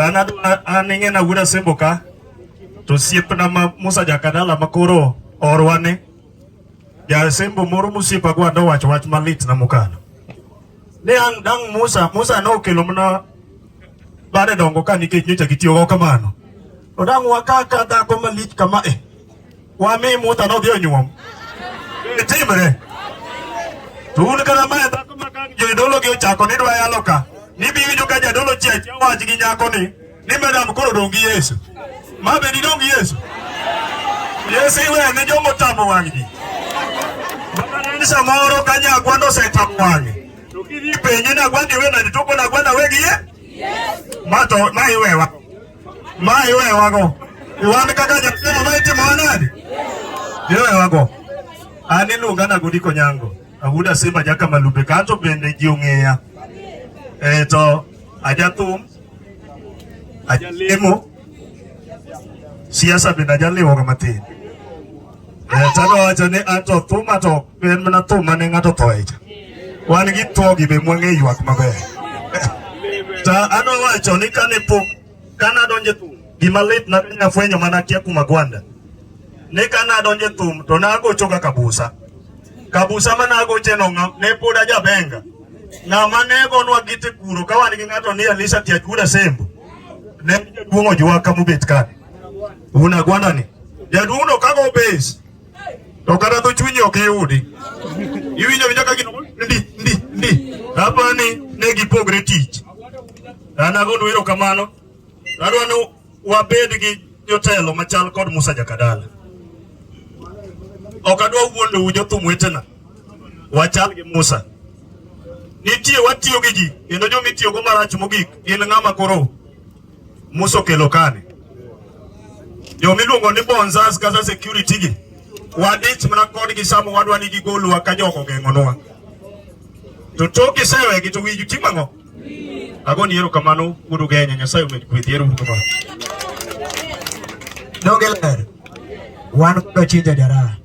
Tana anenge na gura semboka. To siep na ma Musa jakadala makoro orwane. Ja sembo moro musiepa gwa do wach wach malit na mukano. Ne ang dang Musa, Musa no kelo mna bade dongo ka nikech nyocha gitiyo go kamano. To dang wakaka dhako malit kama eh. Wa mi muta no dio nyuom. Timre. To un kata mae dhako ma ka jodolo gi ochako ni dwa yalo ka, nibiwinjo ka jadolo chiach wach gi nyako ni, ni madam koro dong' gi Yesu. Ma be didong' gi Yesu? Yesu iwe ne jomo tamo wang' ji. Bana ni samoro ka nyagwa nosetamo wang'e. To kidhi penje nagwa ndiwe na nitoko nagwa nawe gi ye? Yesu. Ma to ma iwewa. ma iwewago wan kaka jatelo ma itimo wanadi iwewago an iluonga na Godiko Nyango awuda simba jaka malube kanto bende ji ong'eya e to ajathum ajalemo siasa bende ajaliwoga matin Tano wacho ni ato thuma to en mana thuma ne ng'ato tho echa. Wan gi two gi be mwang'e ywak maber. Ta ano wacho ni kane pok kana donje thum gima lit na kanya fwenyo mana kia kuma gwanda. Ne kana donje thum to na agocho ga kabusa. Kabusa mana agoche no ngam ne pod ajabenga. Na mane gonwa gite kuro ka wan gi ng'ato ni Alisa Tiajuda Sembo. Ne duongo jwa kamubet kani. Una gwanda ni. Jadundo kago base. To kata to chunyi ok yudi. Iwinjo winjo ka gino ndi ndi ndi. Hapa ni ne gipogre tich. An agondo wero kamano. Adwa ni wabed gi jotelo machal kod Musa Jakadala. Ok adwa wuondo jothum wetena. Wachal gi Musa. Nitie watiyo gi ji kendo joma itiyogo marach mogik gin ng'ama koro Musa okelo kani jo miluongo ni bonzas kata security gi wadich mana kodgi sama wadwa ni gigolwa ka jok ogeng'onwa to tok isewegi to wiju timo ang'o agoni erokamano wuod ugenya nyasaye omed kwedhi ero uru kamano donge ler wan kod chinja jaraha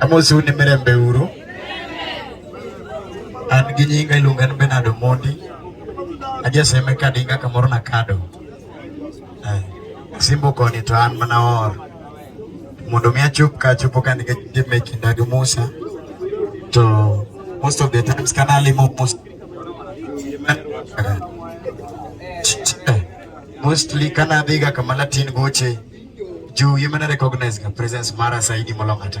Amosu ni mirembe uru. An gi nyinga iluonga ni Bernard Omondi. Ajeseme ka dinga kamoro na kado. Eh, Simbo koni to an mana or. Mondo mi achop ka achopo ka nige jime kinda gi Musa. To most of the times kana limo Musa. Mostly kana dhiga kama Latin goche juu yimene recognize ka presence mara saidi molong'ata.